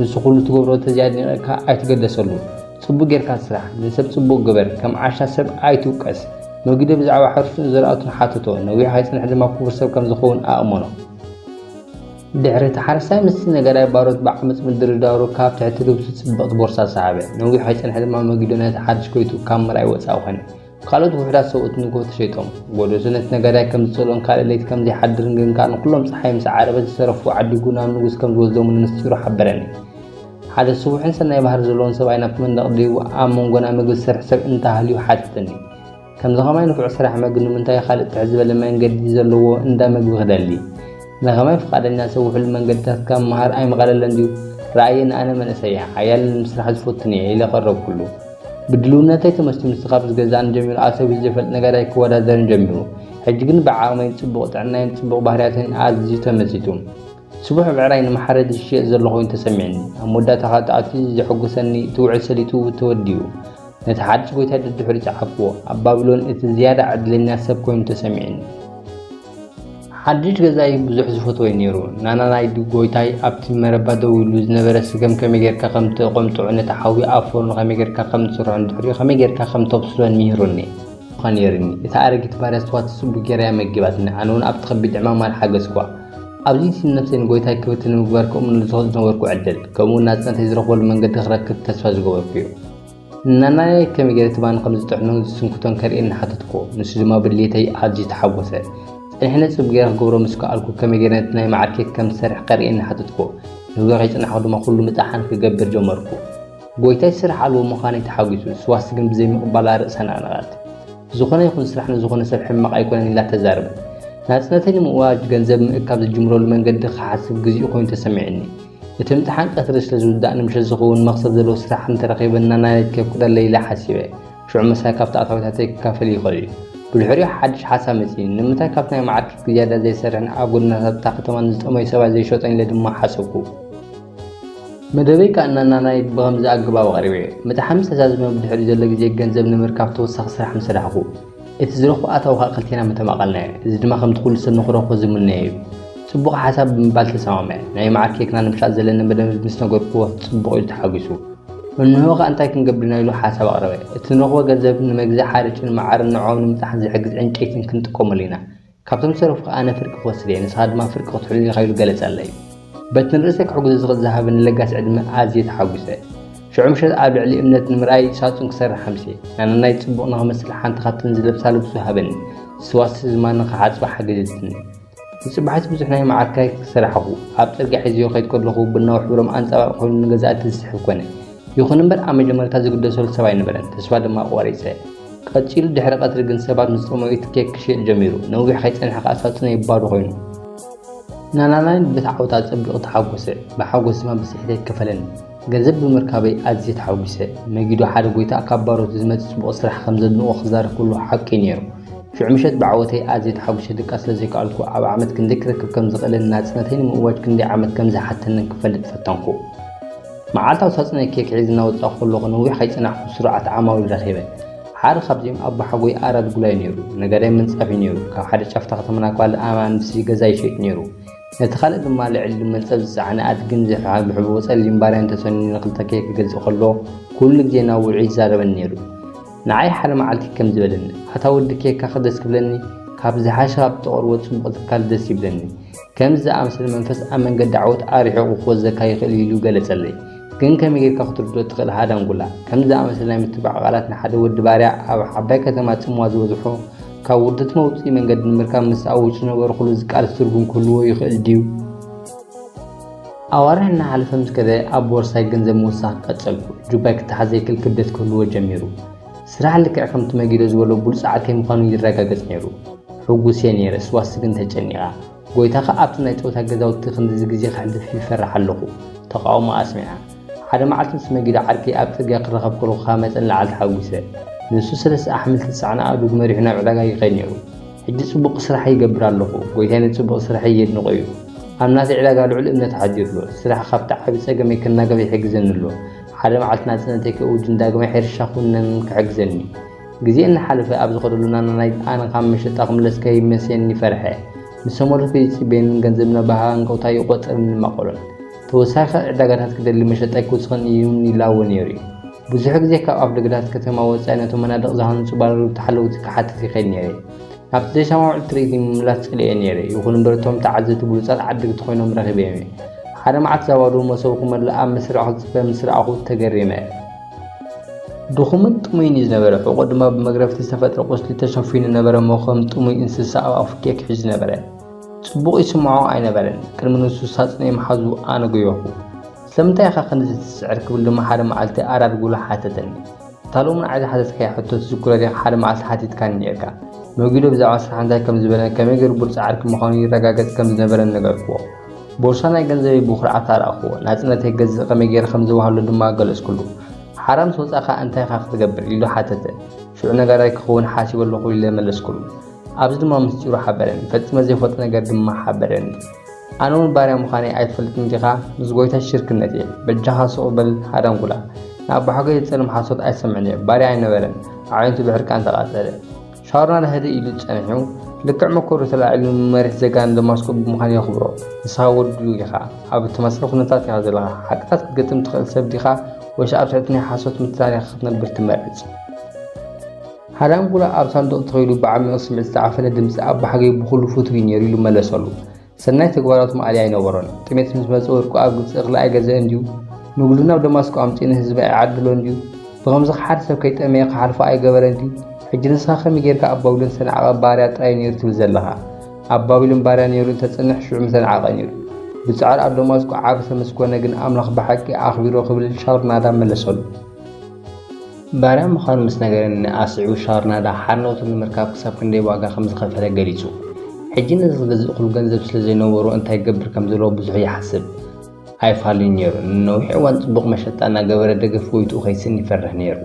ንሱ ኩሉ ትገብሮ እንተዘይ ኣድኒቀካ ኣይትገደሰሉ ጽቡቅ ጌርካ ስራሕ ንሰብ ጽቡቅ ግበር ከም ዓሻ ሰብ ኣይትውቀስ መጊዶ ብዛዕባ ሕርሱን ዘርኣቱን ሓተቶ ነዊሕ ኣይጽንሕ ድማ ኩቡር ሰብ ከም ዝከውን ኣእመኖ። ድሕሪ እቲ ሓረስታይ ምስቲ ነጋዳይ ባሮት ብዓመጽ ምድርዳሩ ካብ ትሕቲ ልብሱ ጽብቕቲ ቦርሳ ሰሓበ። ነዊሕ ከይጸንሐ ድማ መጊዶ ነቲ ሓድሽ ጎይትኡ ካብ ምርኣይ ወጻኢ ኮነ። ካልኦት ውሑዳት ሰብኡት ንግሆ ተሸይጦም። ጎዶዞ ነቲ ነጋዳይ ከም ዝጸልኦን ካልእ ለይቲ ከም ዘይሓድርን ግን ከኣ ንኹሎም ጸሓይ ምስ ዓረበት ዝተረፉ ዓዲጉ ናብ ንጉስ ከም ዝወስዶምን ምስጢሩ ሓበረኒ። ሓደ ስቡሕን ሰናይ ባህሪ ዘለዎን ሰብኣይ ናብቲ መንደቕ ደይቡ ኣብ መንጎና መግቢ ዝሰርሕ ሰብ እንተ ሃልዩ ሓተተኒ። ከምዚ ከማይ ንፉዕ ስራሕ መግ ንምንታይ ካልእ ትዕዝበለ መንገዲ ዘለዎ እንዳ መግቢ ክደሊ ንከማይ ፍቃደኛ ሰብ ውሕሉ መንገድታት ካብ መሃር ኣይምቀለለን ድዩ ረኣየኒ ኣነ መንእሰይ ሓያል ንምስራሕ ዝፈቱን እየ ኢለ ቀረብኩሉ ብድልውነተይ ተመስቲኑ ስኻብ ዝገዛእን ጀሚሩ ኣሰብ ዝፈልጥ ነገር ኣይክወዳደርን ጀሚሩ ሕጂ ግን ብዓቕመይን ጽቡቕ ጥዕናይን ጽቡቕ ባህርያተይን ኣዝዩ ተመሲጡ ስቡሕ ብዕራይ ንመሓረዲ ዝሽየጥ ዘሎ ኮይኑ ተሰሚዕኒ። ኣብ መወዳእታ ከኣ እቲ ኣዝዩ ዘሐጉሰኒ እቲ ውዕል ሰሊጡ ተወዲኡ። ነቲ ሓድሽ ጎይታይ ደድሕሪኡ ጸሓፍኩዎ። ኣብ ባቢሎን እቲ ዝያዳ ዕድለኛ ሰብ ኮይኑ ተሰሚዕኒ። ሓድሽ ገዛይ ብዙሕ ዝፈትዎ'ዩ ነይሩ። ናና ናይ ጎይታይ ኣብቲ መረባ ደው ኢሉ ዝነበረ ስገም ከመይ ጌርካ ከም ትቖምጥዑ ነቲ ሓዊ ኣብ ፎርኖ ከመይ ጌርካ ከም ትስርሖን ድሕሪኡ ከመይ ጌርካ ከም ተብስሎን ምሂሩኒ። ኔርኒ። እታ ኣረጊት ባርያ ስዋ ትጽቡ ጌራ እያ መጊባትኒ። ኣነ'ውን ኣብቲ ከቢድ ዕማም ኣልሓገስኩዋ። ኣብዚ ንነብሰይ ንጎይታይ ክብርቲ ንምግባር ከምኡውን ንዝኸድ ዝነበርኩ ዕድል ከምኡውን ናጽነተይ ዝረኽበሉ መንገዲ ክረክብ ተስፋ ዝገበርኩ እዩ። ንናናየይ ከመይ ገይረ ትማን ከም ዝጥዕኖን ዝስንክቶን ከርእየኒ ሓተትኩዎ። ንሱ ድማ ብድሌተይ ኣዝዩ ተሓጎሰ። ጸኒሕነ ጽብ ገይረ ክገብሮ ምስ ከኣልኩ ከመይ ገይረ ነቲ ናይ መዓር ኬክ ከም ዝሰርሕ ከርእየኒ ሓተትኩዎ። ንግሆ ከይጸናሕኩ ድማ ኩሉ ምጥሓን ክገብር ጀመርኩ። ጎይታይ ስራሕ ኣልቦ ምዃነይ ተሓጒሱ፣ ስዋስ ግን ብዘይምቕባላ ርእሳ ነቕነቐት። ዝኾነ ይኹን ስራሕ ንዝኾነ ሰብ ሕማቕ ኣይኮነን ኢላ ተዛርብ። ናጽነተይ ንምእዋጅ ገንዘብ ምእካብ ዝጅምረሉ መንገዲ ክሓስብ ግዜኡ ኮይኑ ተሰሚዑኒ። እቲ ምጥሓን ቀትሪ ስለ ዝውዳእ ንምሸት ዝኸውን መኽሰብ ዘለዎ ስራሕ እንተረኺበ እናናደድኪ ከብቅደለይ ኢለ ሓሲበ። ሽዑ ምሳይ ካብቲ ኣታዊታተይ ክካፈል ይኽእል እዩ። ብድሕሪኡ ሓድሽ ሓሳብ መጺኒ። ንምንታይ ካብቲ ናይ መዓርኪ ዝያዳ ዘይሰርሕን ኣብ ጎደናታት እታ ከተማ ንዝጠመዩ ሰባት ዘይሸጦን ኢለ ድማ ሓሰብኩ። መደበይ ከኣ እናናናይ ብኸምዚ ኣገባብ ኣቕሪበዮ። ምጥሓን ምስ ተዛዘመ ብድሕሪኡ ዘሎ ግዜ ገንዘብ ንምርካብ ተወሳኺ ስራሕ ምሰራሕኩ። እቲ ዝረኽቦ ኣታዊ ከኣ ክልቴና ምተማቐልናዮ። እዚ ድማ ከምቲ ኩሉ ሰብ ንኽረኽቦ ዝምነዮ እዩ። ጽቡቕ ሓሳብ ብምባል ተሰማምዐ። ናይ መዓር ኬክና ንምሻጥ ዘለኒ መደብ ምስ ነገርኩዎ ጽቡቕ ኢሉ ተሓጒሱ። እንሆ ከኣ እንታይ ክንገብር ኢና ኢሉ ሓሳብ ኣቕረበ። እቲ ንረኽቦ ገንዘብ ንመግዝኢ ሓርጭን መዓርን ንዖኦም ንምጥሓን ዝሕግዝ ዕንጨይትን ክንጥቀመሉ ኢና። ካብቶም ዝተረፍኩ ኣነ ፍርቂ ክወስድ እየ፣ ንስኻ ድማ ፍርቂ ክትሕሉ ኢኻ ኢሉ ገለጸለይ። በቲ ንርእሰይ ክሕግዞ ዝኽእል ዝሃበኒ ለጋስ ዕድመ ኣዝየ ተሓጒሰ። ሽዑ ምሸት ኣብ ልዕሊ እምነት ንምርኣይ ሳጹን ክሰርሕ ኣምስየ። ናናይ ጽቡቕ ንኽመስል ሓንቲ ካብተን ዝለብሳ ልብሱ ሃበኒ። ዝስዋስይ ዝማን ንኽሓጽባ ሓገዘትኒ። ንጽባሒቱ ብዙሕ ናይ መዓር ክራይ ሰራሕኹ። ኣብ ጽርግያ ሒዘዮ ክኸይድ ከለኹ ቡናዊ ሕብሮም ኣንጸባርቂ ኮይኑ ንገዛእቲ ዝስሕብ ኮነ። ይኹን እምበር ኣብ መጀመርታ ዝግደሰሉ ሰብ ኣይነበረን፣ ተስፋ ድማ ኣቋሪጸ። ቀጺሉ ድሕሪ ቀትሪ ግን ሰባት ምስ ጥሙይት ኬክ ክሽየጥ ጀሚሩ። ነዊሕ ከይጸንሐ ከኣ ሳጹነይ ባዶ ኮይኑ። ናላናይን በቲ ዓወት ኣጸቢቑ ተሓጎሰ፣ ብሓጎስ ድማ ብስሕት ኣይከፈለን። ገንዘብ ብምርካበይ ኣዝየ ተሓጒሰ። መጊዶ ሓደ ጎይታ ካብ ባሮቱ ዝመጽእ ጽቡቕ ስራሕ ከም ዘድንቖ ክዛረብ ከሎ ሓቂ ነይሩ። ሽዑ ምሸት ብዓወተይ ኣዝየ ተሓጒሰ ድቃስ ስለ ዘይከኣልኩ ኣብ ዓመት ክንደይ ክረክብ ከም ዝኽእልን ናጽነተይ ንምእዋጅ ክንደይ ዓመት ከም ዝሓተንን ክፈልጥ ፈተንኩ። መዓልታዊ ሳጹነይ ኬክ ሒዘ እናወጻኹ ከለኹ ነዊሕ ከይጸናሕኩ ስሩዓት ዓማዊል ረኺበ። ሓደ ካብዚኦም ኣቦሓጎይ ኣራድ ጉላይ ነይሩ። ነጋዳይ ምንጻፍ እዩ ነይሩ። ካብ ሓደ ጫፍ'ታ ከተማና ክፋል ኣናብሲ ገዛ ይሸይጥ ነይሩ። ነቲ ካልእ ድማ ልዕሊ መንጸፍ ዝጸዓነ ኣድግን ዝሕብሕብዎ ጸሊም ባርያን ተሰንዩ ንኽልተኪኤ ክገልጾ ከሎ ኩሉ ግዜ ናብ ውዑይ ይዛረበኒ ነይሩ። ንዓይ ሓደ መዓልቲ ከምዚ በለኒ፣ ኣታ ወዲ ኬካ ክደስ ክብለኒ ካብ ዝሓሸ ካብ እተቕርቦ ጽቡቕ ትካል ደስ ይብለኒ። ከምዚ ዝኣመሰለ መንፈስ ኣብ መንገዲ ዓወት ኣርሒቑ ክወዘካ ይኽእል እዩ ኢሉ ገለጸለይ። ግን ከመይ ጌርካ ክትርድኦ ትኽእል ሃዳንጉላ? ከምዚ ዝኣመሰለ ናይ ምትባዕ ቃላት ንሓደ ወዲ ባርያ ኣብ ዓባይ ከተማ ጽምዋ ዝበዝሖ ካብ ውርደት መውጽኢ መንገዲ ንምርካብ ምስ ኣውጭ ዝነበርኩሉ ዝቃለስ ትርጉም ክህልዎ ይኽእል ድዩ? ኣዋርሕ እናሓለፈ ምስ ከደ ኣብ ቦርሳይ ገንዘብ ምውሳኽ ቀጸልኩ። ጁባይ ክተሓዘ ይክል ክብደት ክህልዎ ጀሚሩ። ስራሕ ልክዕ ከምቲ መጊዶ ዝበሎ ብሉጻዕ ከይምዃኑ ይረጋገጽ ነይሩ። ሕጉስ'የ ነይረ፣ ስዋስቲ ግን ተጨኒቓ። ጎይታኻ ኣብቲ ናይ ጸወታ ገዛውቲ ክንድዚ ግዜ ከሕልፍ ይፈርሕ ኣለኹ፣ ተቓውሞኣ ኣስሚዓ። ሓደ መዓልቲ ምስ መጊዶ ዓርከይ ኣብ ጽርግያ ክራኸብ ከለኹ ካብ መጠን ንላዕሊ ተሓጒሰ። ንሱ ሰለስተ ኣሕምልቲ ዝጸዓና ኣእዱግ መሪሑ ናብ ዕዳጋ ይኸይድ ነይሩ። ሕጂ ጽቡቕ ስራሕ ይገብር ኣለኹ፣ ጎይታይ ነቲ ጽቡቕ ስርሐይ የድንቖ'ዩ። ኣብ ናተይ ዕዳጋ ልዑል እምነት ኣሕዲሩ'ሎ፣ ስራሕ ካብቲ ዓቢ ጸገመይ ክናገፍ ይሕግዘኒ'ሎ። ሓደ መዓልቲ ናጽነተይ ክእውጅን ዳግማይ ሕርሻ ክውንን ክሕግዘኒ። ግዜ እናሓለፈ ኣብ ዝኸደሉ ናና ናይ ኣነ ካብ መሸጣ ክምለስ ከይመሴኒ ፈርሐ። ምስ ሰመርቱ ከይጽበየንን ገንዘብ እናባህ ሃንቀውታ ይቖጽርን ይማቐሎን። ተወሳኺ ዕዳጋታት ክደሊ መሸጣ ኣይክውስኽን እዩ'ውን ይላወ ነይሩ'ዩ። ብዙሕ ግዜ ካብ ኣፍደገታት ከተማ ወጻኢ ነቶም መናድቕ ዝሃንጹ ባለርብቲ ሓለውቲ ክሓትት ይኸይድ ነይረ። ናብቲ ዘይሰማምዕ ትርኢት ንምምላስ ጸሊኤ ነይረ፣ ይኹን እምበር እቶም ተዓዘብቲ ብሉጻት ዓደግቲ ኮይኖም ረኺበዮም እየ። ሓደ መዓልቲ እዛ ባዶ መሶብ ክመልእ ኣብ መስርዕ ክትጽበ ምስ ረኣኹ ተገሪመ። ድኹምን ጥሙይን እዩ ዝነበረ፣ ሕቖኡ ድማ ብመግረፍቲ ዝተፈጥረ ቁስሊ ተሸፊኑ ነበረ እሞ ከም ጥሙይ እንስሳ ኣብ ኣፉ ኬክ ይሕዝ ነበረ። ጽቡቕ ይስምዖ ኣይነበረን፣ ቅድሚ ንሱ ሳጹነይ ምሓዙ ኣነ ጎየኹ። ስለምንታይ ኢኻ ክንድዚ ትስዕር? ክብል ድማ ሓደ መዓልቲ ኣራር ጉሉ ሓተተኒ። እታ ሎሚ ንዓይ ዝሓተትካያ ሕቶ ትዝክሮ ዲኻ ሓደ መዓልቲ ሓቲትካኒ ኔርካ። ኖጊዶ ብዛዕባ ስራሕ እንታይ ከም ዝበለን ከመይ ጌሩ ብሉጽ ዓርኪ ምዃኑ ይረጋገጽ ከም ዝነበረን ነገርክዎ። ቦርሳ ናይ ገንዘበይ ብኹርዓት ኣርኣኽዎ፣ ናጽነተይ ገዝእ ከመይ ጌረ ከም ዝወሃሎ ድማ ገለጽኩሉ። ሓራ ምስ ወጻእካ እንታይ ኢኻ ክትገብር? ኢሉ ሓተተ። ሽዑ ነጋዳይ ክኸውን ሓሲበ ኣለኹ ኢለ መለስኩሉ። ኣብዚ ድማ ምስጢሩ ሓበረኒ፣ ፈጺመ ዘይፈልጦ ነገር ድማ ሓበረኒ። ኣነ እውን ባርያ ምዃነይ ኣይትፈልጥን ዲኻ ምስ ጎይታይ ሽርክነት እየ በጃኻ ሱቕ በል ሃዳንጉላ ንኣቦሓጎይ ዝጸልም ሓሶት ኣይሰምዕን እየ ባርያ ኣይነበረን ኣዕይንቱ ብሕርቃን ተቓጸለ ሻውርና ህድእ ኢሉ ጸኒሑ ልክዕ መኮሩ ተላዒሉ ንመሪሕ ዜጋ ንደማስቆ ብምዃን የኽብሮ ንስኻ ወዱ ኢኻ ኣብ እተመሰለ ኩነታት ኢኻ ዘለኻ ሓቅታት ክትገጥም ትኽእል ሰብ ዲኻ ወይስ ኣብ ትሕቲ ናይ ሓሶት ምትላል ኢኻ ክትነብር ትመርጽ ሃዳንጉላ ኣብ ሳንዱቕ ተኺሉ ብዓሚቕ ስምዒት ዝተዓፈነ ድምጺ ኣቦሓገይ ብኹሉ ፍቱው እዩ ነይሩ ኢሉ መለሰሉ። ሰናይ ተግባራቱ ማእሊ ኣይነበሮን። ጥሜት ምስ መጸ ወርቁ ኣብ ግብጺ እኽሊ ኣይገዝአ እንድዩ? ንግዱ ናብ ደማስቆ ኣምጺኡ ንህዝቢ ኣይዓደሎ እንድዩ? ብኸምዚ ከ ሓደ ሰብ ከይጠመየ ክሓልፎ ኣይገበረ እንድዩ? ሕጂ ንስኻ ከመይ ጌርካ ኣብ ባቢሎን ዝተናዕቐ ባርያ ጥራይ ነይሩ ትብል ዘለኻ? ኣብ ባቢሎን ባርያ ነይሩ እንተጽንሕ ሽዑ ምተናዕቐ ነይሩ። ብጻዕሪ ኣብ ደማስቆ ዓቢ ሰብ ምስ ኮነ ግን ኣምላኽ ብሓቂ ኣኽቢሮ ክብል ሻውርናዳ መለሰሉ። ባርያ ምዃኑ ምስ ነገረኒ ኣስዒቡ ሻርናዳ ሓርነቱ ንምርካብ ክሳብ ክንደይ ዋጋ ከም ዝኸፈለ ገሊጹ። ሕጂ ነዚ ዝገዝእክሉ ገንዘብ ስለ ዘይነበሮ እንታይ ክገብር ከም ዘለዎ ብዙሕ ይሓስብ ኣይፋሉን ነይሩ። ንነዊሕ እዋን ጽቡቕ መሸጣ እናገበረ ደገፍ ጎይትኡ ከይስእን ይፈርሕ ነይሩ።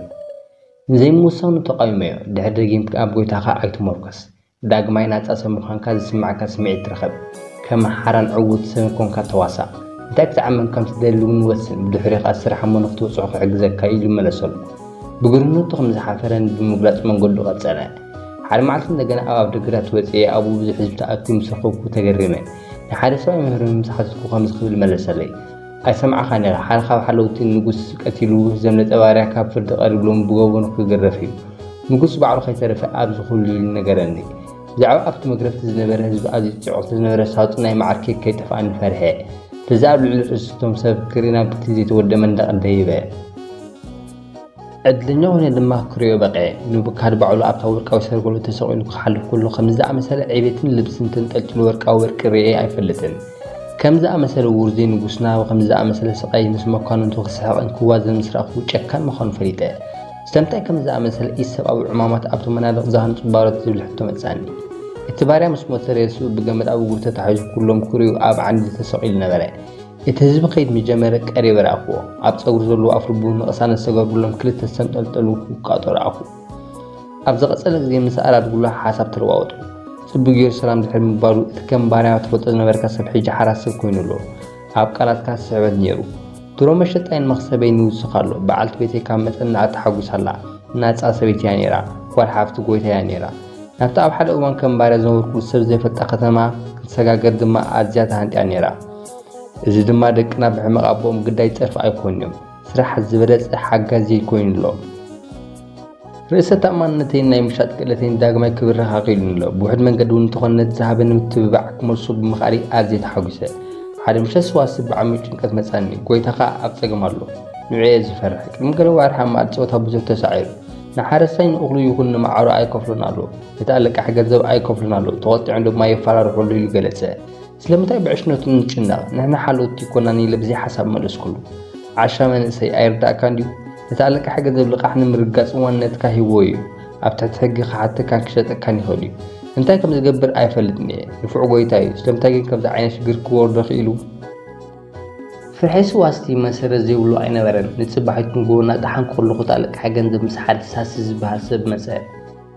ንዘይምውሳኑ ተቓዊመዮ፣ ድሕሪ ደጊምካ ኣብ ጎይታኻ ኣይትሞርኮስ፣ ዳግማይ ናጻ ሰብ ምዃንካ ዝስምዓካ ስምዒት ርኸብ። ከም ሓራን ዕዉት ሰብን ኰንካ ተዋሳእ። እንታይ ክትዓምም ከም እትደሊ እውን ወስን፣ ብድሕሪኡ ኸኣ ስራሕ እሞ ንኽትበጽሖ ክሕግዘካ እዩ ኢሉ መለሰሉ። ብግርህነቱ ከም ዝሓፈረ ንብምግላጽ መንገዱ ቀጸለ። ሓደ መዓልቲ እንደገና ኣብ ኣፍደገታት ወጺኤ ኣብኡ ብዙሕ ህዝቢ ተኣኪቡ ምስ ረኸብኩ ተገሪመ። ንሓደ ሰብኣይ መምህር ምም ምስ ሓተትኩ ከምዚ ክብል መለሰለይ። ኣይሰማዕኻን ኢኻ ሓደ ካብ ሓለውቲ ንጉስ ቀቲሉ ዘምለጠ ባርያ ካብ ፍርዲ ቀሪብሎም ብገበኑ ክግረፍ እዩ ንጉስ ባዕሉ ከይተረፈ ኣብዚ ኩሉ ኢሉ ነገረኒ ብዛዕባ ኣብቲ መግረፍቲ ዝነበረ ህዝቢ ኣዝዩ ጽዑቕ ስለዝነበረ ሳጹን ናይ መዓር ኬክ ከይጠፍኣኒ ፈርሐ በዚ ኣብ ልዕሊ ርእስቶም ሰብ ክርኢ ናብቲ ዘይተወደመ እንዳቐደይበ ዕድለኛ ኾይነ ድማ ክሪኦ በቒዐ። ንቡካድ ባዕሉ ኣብታ ወርቃዊ ሰርቨሉ ተሰቒሉ ክሓልፍ ከሎ ከምዚ ዝኣመሰለ ዕቤትን ልብስን ተንጠልጢሉ ወርቃዊ ወርቂ ርእየ ኣይፈልጥን። ከም ዝኣመሰለ ውርዙይ ንጉስ ናብ ከምዚ ዝኣመሰለ ስቓይ ምስ መኳንንቱ ክስሕቕን ክዋዘን ምስ ረኣኹ ጨካን ምዃኑ ፈሊጠ። ስለምንታይ ከምዚ ዝኣመሰለ ኢሰብኣዊ ዕማማት ኣብቶም መናድቕ ዝሃንጹ ባሮት ዝብል ሕቶ መጽኣኒ። እቲ ባርያ ምስ ሞተ ሬስኡ ብገመድ ኣብ እግሩ ተታሒዙ ኩሎም ክሪኡ ኣብ ዓንዲ ተሰቒሉ ነበረ። እቲ ህዝቢ ከይድ ምጀመረ ቀሪበ ረኣኽዎ። ኣብ ጸጉሪ ዘለዎ ኣፍልቡ ንቕሳነት ዝተገብርሎም ክልተ ዝተንጠልጠሉ ውቃጦ ረኣኹ። ኣብ ዝቐጸለ ግዜ ምስ ኣራድጉላ ሓሳብ ተለዋወጥኩ። ጽቡቕ ገይሩ ሰላም ድሕሪ ምባሉ እቲ ከም ባርያ ትፈልጦ ዝነበርካ ሰብ ሕጂ ሓራስ ሰብ ኮይኑ ኣሎ። ኣብ ቃላትካ ስሕበት ነይሩ። ድሮ መሸጣይን መኽሰበይን ይውስኽ ኣሎ። በዓልቲ ቤተይ ካብ መጠን ንላዕሊ ተሓጒሳ ኣላ። ናጻ ሰበይቲ እያ ነይራ። ጓል ሓፍቲ ጎይታይ እያ ነይራ። ናብቲ ኣብ ሓደ እዋን ከም ባርያ ዝነበርኩሉ ሰብ ዘይፈልጣ ከተማ ክትሰጋገር ድማ ኣዝያ ተሃንጥያ ነይራ። እዚ ድማ ደቅና ብሕመቕ ኣቦኦም ግዳይ ጸርፊ ኣይኮኑን ስራሕ ዝበለጸ ሓጋዚ ኮይኑ ኣሎ። ርእሰ ተኣማንነተይን ናይ ምሻጥ ክእለተይን ዳግማይ ክብርኽ ኣኽኢሉኒ ኣሎ። ብውሕድ መንገዲ እውን እንተኾነ ነቲ ዝሃበኒ ምትብባዕ ክመልሶ ብምኽኣለይ ኣዝየ ተሓጒሰ። ሓደ ምሸት ሰዋስብ ብዓሚቕ ጭንቀት መጻኒ፣ ጎይታ ከኣ ኣብ ጸገም ኣሎ። ንዑ እየ ዝፈርሕ። ቅድሚ ገለ ዋርሕ ኣብ መኣዲ ጸወታ ብዙሕ ተሳዒሩ። ንሓረስታይ ንእኽሉ ይኹን ንመዓሩ ኣይከፍሎን ኣሎ፣ ነቲ ኣለቃሒ ገንዘብ ኣይከፍሎን ኣሎ፣ ተቖጢዖም ድማ የፈራርሑ ኣሎ ኢሉ ገለጸ። ስለምታይ ብዕሽነቱ ንጭነቕ ንሕና ሓለውቲ ኮናን ኢለ ብዘይ ሓሳብ መለስኩሉ። ዓሻ መንእሰይ ኣይርዳእካን ድዩ? ነቲ ኣለቃሒ ገንዘብ ልቓሕ ንምርጋጽ ዋንነትካ ሂብዎ ኢዩ። ኣብ ትሕቲ ሕጊ ክሓተካን ክሸጠካን ይኽእል ኢዩ። እንታይ ከም ዝገብር ኣይፈልጥን ኢየ። ንፉዕ ጎይታ ኢዩ። ስለምታይ ግን ከምዚ ዓይነት ሽግር ክወርዶ ክኢሉ? ፍሒሱ ዋስቲ መሰረት ዘይብሉ ኣይነበረን። ንጽባሒቱ ንጎቦና ጠሓንኩ ከለኹ እቲ ኣለቃሒ ገንዘብ ምስ ሓደ ሳሲ ዝበሃል ሰብ መጸ።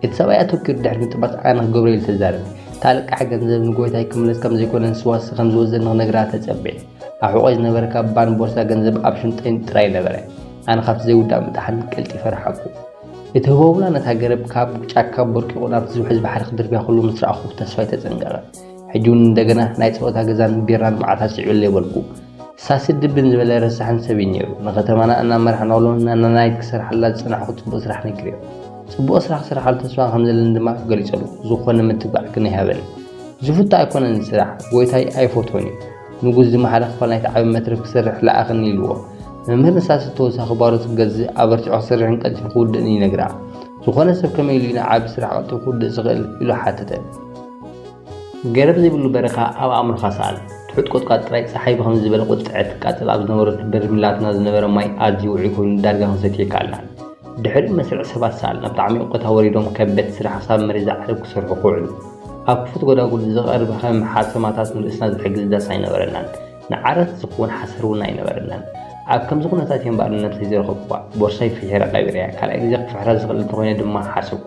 እቲ ሰብኣይ ኣተኲሩ ድሕሪ ምጥማት ኣዕናቒ ክገብሮ ኢሉ ተዛረበ። እቲ ኣለቃሒ ገንዘብ ንጎይታይ ክምለስ ከም ዘይኮነ ንስዋሲ ከም ዝወዘኒ ክነግራ ተጸብየ። ኣብ ሕቖይ ዝነበረ ካባን ቦርሳ ገንዘብ ኣብ ሽንጠይን ጥራይ ነበረ። ኣነ ካብቲ ዘይውዳእ ምጥሓን ቀልጢፈ ረሓቕኩ። እቲ ህቦብላ ነታ ገረብ ካብ ጫካ ቦርቂቑ ናብቲ ዝውሕዝ ባሕሪ ክድርብያ ከሎ ምስ ረኣኹ ተስፋይ ተጸንቀቐ። ሕጂ ውን እንደገና ናይ ጸወታ ገዛን ቢራን መዓት ኣስዒበለይ በልኩ። ሳሲ ድብን ዝበለ ረሳሕን ሰብ እዩ ኔሩ። ንከተማና እናመራሕናሉ ንናናይት ክሰርሓላ ዝጸናሕኩ ጽቡቅ ስራሕ ነጊሬዮ። ጽቡቅ ስራሕ ክሰርሓሉ ተስፋ ከም ዘለኒ ድማ ገሊጸሉ። ዝኾነ ምትብባዕ ግን ኣይሃበንን። ዝፍቶ ኣይኮነን እዚ ስራሕ። ጎይታይ ኣይፈትዎን እዩ። ንጉስ ዝመሓረ ክፋል ናይቲ ዓቢ መትረብ ክሰርሕ ለኣኸኒ ኢልዎ። መምህር ንሳሲ ተወሳኺ ባሮት ክገዝእ ኣበርቲዑ ክሰርሕን ቀልጢፉ ክውድእን ይነግራ። ዝኾነ ሰብ ከመይ ኢሉ እዩ ንዓቢ ስራሕ ቀልጢፉ ክውድእ ዝኽእል? ኢሉ ሓተተ። ገረብ ዘይብሉ በረኻ ኣብ ኣእምሮኻ ሰኣል። ትሑት ቁጥቋጥ ጥራይ ጸሓይ ብኸምዚ ዝበለ ቁጥዐ ትቃጸል ኣብ ዝነበረሉ በርሚላትና ዝነበረ ማይ ኣዝዩ ውዑይ ኮይኑ ዳርጋ ክንሰትዮ ይከኣልናን። ድሕሪኡ መስርዕ ሰባት ሰኣል ናብቲ ዓሚቕ ቦታ ወሪዶም ከበድቲ ስራሕ ክሳብ መሬት ዝዓርብ ክሰርሑ ክውዕሉ። ኣብ ክፉት ጎዳጉል ዝቐርብ ከም ሓሰማታት ንርእስና ዝሕግዝ ዳስ ኣይነበረናን። ንዓራት ዝኸውን ሓሰር እውን ኣይነበረናን። ኣብ ከምዚ ኩነታት እየ እምበኣር ንነብሰይ ዝረኸብኩዋ። ቦርሳይ ፍሒረ ቀቢረያ። ካልኣይ ግዜ ክፍሕራ ዝኽእል እንተኾይነ ድማ ሓሰብኩ።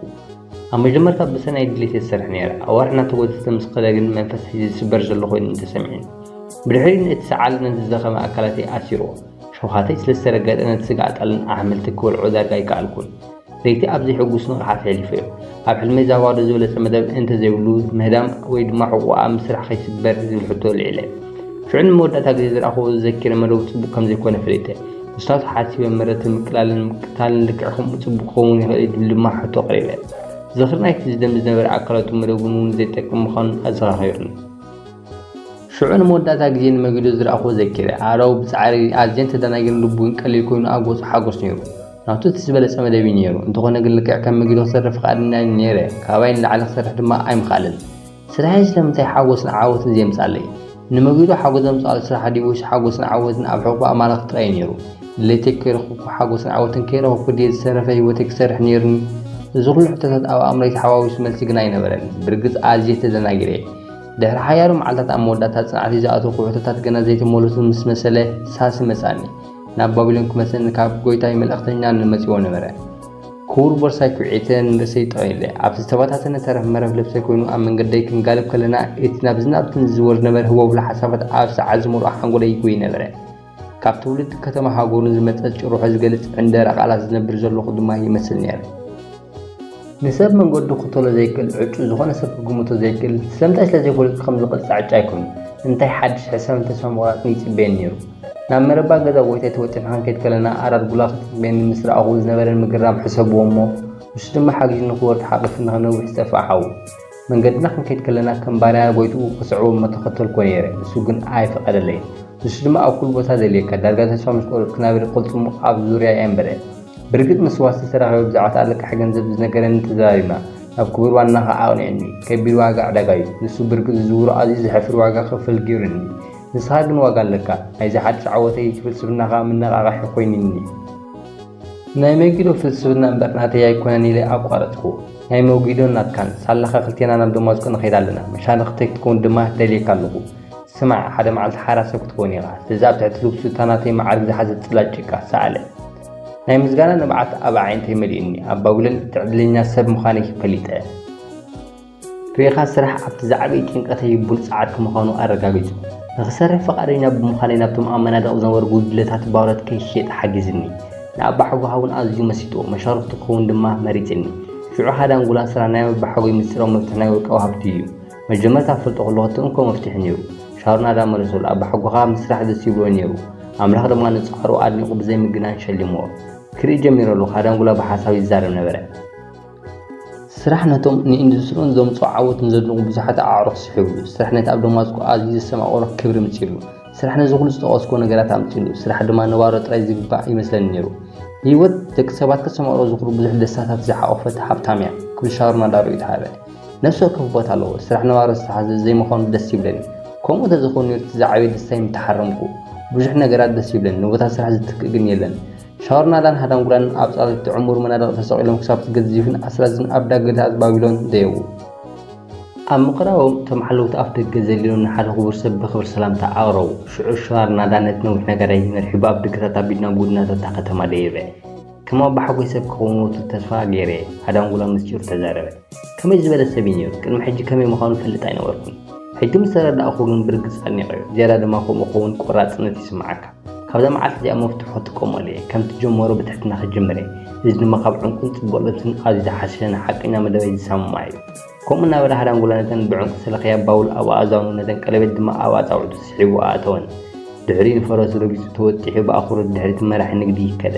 ኣብ መጀመርታ ብሰናይ ድሌት እየ ዝሰርሕ ነይረ። ኣዋርሕ እናተጎተተ ምስ ከደ ግን መንፈስ ሒዘ ዝስበር ዘሎ ኮይኑኒ ተሰሚዑኒ። ብድሕሪኡ ነቲ ሰዓል ነቲ ዝደኸመ ኣካላተይ ኣሲርዎ። ሸውሃተይ ስለ ዝተረገጠ ነቲ ስጋ ኣጣልን ኣሕምልቲ ክበልዖ ዳርጋ ኣይከኣልኩን። ለይቲ ኣብ ዘይሕጉስ ንቕሓት ሐሊፈዮ። ኣብ ሕልመይ እዛ ባዶ ዝበለጸ መደብ እንተ ዘይብሉ ምህዳም ወይ ድማ ሕቖኣ ኣብ ምስራሕ ከይስበር ዝብል ሕቶ ኣልዒለ። ሽዑ ንመወዳእታ ግዜ ዝረኣኹዎ ዘኪረ መደቡ ጽቡቕ ከም ዘይኮነ ፈሊጠ። ምስታቱ ሓሲበ መረትን ምቅላልን ምቅታልን ልክዕ ከምኡ ጽቡቕ ክኸውን ይኽእል እዩ ዝብል ድማ ሕቶ ኣቕሪበ። ዝኽሪ ናይቲ ዝደም ዝነበረ ኣካላቱ መደቡን እውን ዘይጠቅም ምዃኑን ኣዘኻኺሩኒ። ሽዑ ንመወዳእታ ግዜ ንመጊዶ ዝረኣኹዎ ዘኪረ። ኣረው ብጻዕሪ ኣዝየን ተደናጊረን ልቡ ግን ቀሊል ኮይኑ ኣብ ገጹ ሓጎስ ነይሩ። ናቱ እቲ ዝበለጸ መደብ እዩ ነይሩ። እንተኾነ ግን ልክዕ ከም መጊዶ ክሰርሕ ፍቓደኛ ነይረ፣ ካባይ ንላዕሊ ክሰርሕ ድማ ኣይምኽኣለን። ስራሐይ ስለምንታይ ሓጎስን ዓወትን ዜምጻለይ? ንመጊዶ ሓጎስ ዘምጽኣሉ ስራሕ ድዩ ወይስ ሓጎስን ዓወትን ኣብ ሕቕፎ ኣማልኽቲ ጥራይ ነይሩ? ድሌተይ ከይረኸብኩ ሓጎስን ዓወትን ከይረኸብኩ ድየ ዝተረፈ ህይወተይ ክሰርሕ ነይሩኒ? እዚ ኹሉ ሕቶታት ኣብ ኣእምሮይ ተሓዋዊሱ መልሲ ግና ኣይነበረን። ብርግጽ ኣዝየ ተደናጊረ እየ። ድሕሪ ሓያሎ መዓልትታት ኣብ መወዳእታ ጽንዓተይ ዝኣተውኩ ሕቶታት ገና ዘይተመለሱ ምስ መሰለ ሳሲ መጻኒ። ናብ ባቢሎን ክመልሰኒ ካብ ጐይታይ መልእኽተኛ መጺዎ ነበረ። ክቡር ቦርሳይ ኩዒተ ንርእሰይ ጠቕ ኢለ፣ ኣብቲ ዝተበታተነ ተረፍ መረፍ ልብሰይ ኮይኑ ኣብ መንገደይ ክንጋልብ ከለና፣ እቲ ናብዝን ናብትን ዝዝወር ዝነበረ ህቦብላ ሓሳባት ኣብ ሰዓት ዝመልኦ ሓንጎለይ ይጎይ ነበረ። ካብ ትውልዲ ከተማ ሃገሩን ዝመጸ ጭርሖ ዝገልጽ ዕንደራ ቃላት ዝነብር ዘለኹ ድማ ይመስል ነይረ። ንሰብ መንገዱ ክኽተሎ ዘይክእል ዕጩ ዝኾነ ሰብ ክግምቶ ዘይክእል፣ ስለምንታይ ስለዘይፈለጡ ከም ዝቕጻዕ ዕጫ ኣይኮኑን። እንታይ ሓድሽ ሕሰምን ተስፋ ምቑራጽን ይጽበየኒ ነይሩ። ናብ መረባ ገዛ ጎይታይ ተወጢሕና ክንከይድ ከለና ኣራድ ጉላ ክትረኽበኒ ምስ ረኣኹ ዝነበረኒ ምግራም ሕሰብዎ እሞ ንሱ ድማ ሓጊዙኒ ክወርድ ሓቒፉኒ ካብ ነዊሕ ዝጠፍኣ ሓዉ መንገድና ክንከይድ ከለና ከም ባርያ ጎይትኡ ክስዕቦ እሞ ተኸተልክዎ ነይረ ንሱ ግን ኣይፈቐደለይን ንሱ ድማ ኣብ ኩሉ ቦታ ዘልየካ ዳርጋ ተስፋ ምስ ቆረጽኩ ናበለ ቅልጽሙ ኣብ ዙርያይ ኣንበረ ብርግጽ ምስ ዋስቲ ተራኺበ ብዛዕባ ኣለቃሒ ገንዘብ ዝነገረኒ ተዘራሪብና ናብ ክቡር ዋናኻ ኣቕኒዑኒ ከቢድ ዋጋ ዕዳጋ'ዩ ንሱ ብርግጽ ዝዝውሮ ኣዝዩ ዘሕፍር ዋጋ ክኽፈል ገይሩኒ ንስኻ ግን ዋጋ ኣለካ ናይዚ ሓድሽ ዓወተይ እቲ ፍልስፍናኻ ምነቓቓሒ ኮይኑኒ። ናይ መጊዶ ፍልስፍና እምበር ናተይ ኣይኮነን ኢለ ኣቋረጽኩ። ናይ መጊዶን ናትካን ሳላኻ ክልቴና ናብ ደማስቆ ንኸይድ ኣለና፣ መሻርኽተይ ክትከውን ድማ ደልየካ ኣለኹ። ስማዕ ሓደ መዓልቲ ሓራሰ ክትከውን ኢኻ፣ ስለዚ ኣብ ትሕቲ ልብሱ እታ ናተይ መዓርግ ዝሓዘት ጽላል ጭቃ ሰኣለ። ናይ ምስጋና ንብዓት ኣብ ኣዒንተይ መሊኡኒ፣ ኣብ ባቢሎን እቲ ዕድለኛ ሰብ ምዃነይ ፈሊጠ። ፕሪኻ ስራሕ ኣብቲ ዝዓበየ ጭንቀተይ ቡልጽዓት ክምዃኑ ኣረጋጊጹ። ንክሰርሕ ፍቓደኛ ብምዃነይ ናብቶም ኣብ መናድቕ ዝነበሩ ጉድለታት ባሮት ከይሸጥ ሓጊዝኒ። ንኣባሓጎሃውን ኣዝዩ መሲጥዎ፣ መሻርኽቱ ክኸውን ድማ መሪጽኒ። ሽዑ ሓደ ኣንጎላ ስራ ናይ ኣባሓጎይ ምስጢራዊ መፍትሕ ናይ ውልቃዊ ሃብቱ እዩ። መጀመርታ ክፈልጦ ከለኹ እቲ እንኮ መፍትሕ ነይሩ። ሻሮን ኣዳም መለሰሉ፣ ኣባሓጎኻ ምስራሕ ደስ ይብሎ ነይሩ። ኣምላኽ ድማ ንጻዕሩ ኣድኒቑ ብዘይምግናን ሸሊምዎ። ክርኢ ጀሚረ ኣለኹ፣ ሃዳንጉላ ብሓሳብ ይዛረብ ነበረ። ስራሕ ነቶም ንኢንዱስትሪኡን ዘምጽኦ ዓወት ንዘድንቑ ብዙሓት ኣዕሩኽ ስሒቡሉ። ስራሕ ነቲ ኣብ ደማስቆ ኣዝዩ ዘስተማቕሮ ክብሪ ኣምጺኡሉ። ስራሕ ነዚ ኩሉ ዝጠቐስኩዎ ነገራት ኣምጺኡሉ። ስራሕ ድማ ንባሮ ጥራይ ዝግባእ ይመስለኒ ነይሩ። ህይወት ደቂ ሰባት ከተስተማቕሮ ዝኽሉ ብዙሕ ደስታታት ዝሓቖፈት ሃብታም'ያ ክብል ሻሮን ኣላ ርእይቶ ሃበ። ነፍሲ ወከፍ ቦታ ኣለዎ። ስራሕ ንባሮ ዝተሓዘ ዘይምዃኑ ደስ ይብለኒ። ከምኡ እንተዘይኮይኑ ነይሩ እቲ ዝዓበየ ደስታይ ምተሓረምኩ። ብዙሕ ነገራት ደስ ይብለኒ፣ ንቦታ ስራሕ ዝትክእ ግን የለን። ሻወርናላን ሃዳንጉላን ኣብ ጻውቲ ዕሙር መናድቕ ተሰቒሎም ክሳብ ትገዝፍን ኣስራዝን ኣብ ዳገታት ባቢሎን ደየቡ። ኣብ ምቕራቦም እቶም ሓለውቲ ኣፍ ደገ ዘሊሎም ንሓደ ክቡር ሰብ ብኽብሪ ሰላምታ ኣቕረቡ። ሽዑ ሻወርናላ ነቲ ነዊሕ ነጋዳይ መሪሑ ብኣፍ ደገታት ኣቢሉ ናብ ጎድናታት እታ ከተማ ደየበ። ከም ኣቦሓጎይ ሰብ ክኸውን ወትሩ ተስፋ ገይረ'የ፣ ሃዳንጉላ ምስጢሩ ተዛረበ። ከመይ ዝበለ ሰብ'ዩ ነይሩ? ቅድሚ ሕጂ ከመይ ምዃኑ እፈልጥ ኣይነበርኩን። ሕጂ ምስ ተረዳእኩ ግን ብርግጽ ኣድኒቐዮ። ዝያዳ ድማ ከምኡ ክኸውን ቆራጽነት ይስምዓካ። ካብዛ መዓልቲ እዚኣ መፍትሑ ክጥቀመሉ እየ ከምቲ ዝጀመሮ ብትሕትና ክጅምር እየ እዚ ድማ ካብ ዕንቁን ፅቡቕ ልብስን ኣዝዩ ዝሓሸ ንሓቀኛ መደበይ ዝሰማማዕ እዩ ከምኡ እናበለ ሃዳንጉላ ነተን ብዕንቁ ዝተለኽያ ባውል ኣብ ኣእዛኑ ነተን ቀለቤት ድማ ኣብ ኣፃውዕቱ ስሒቡ ኣእተወን ድሕሪኡ ንፈረሱ ረጊፁ ተወጢሑ ብኣኽብሮት ድሕሪ እቲ መራሒ ንግዲ ይከደ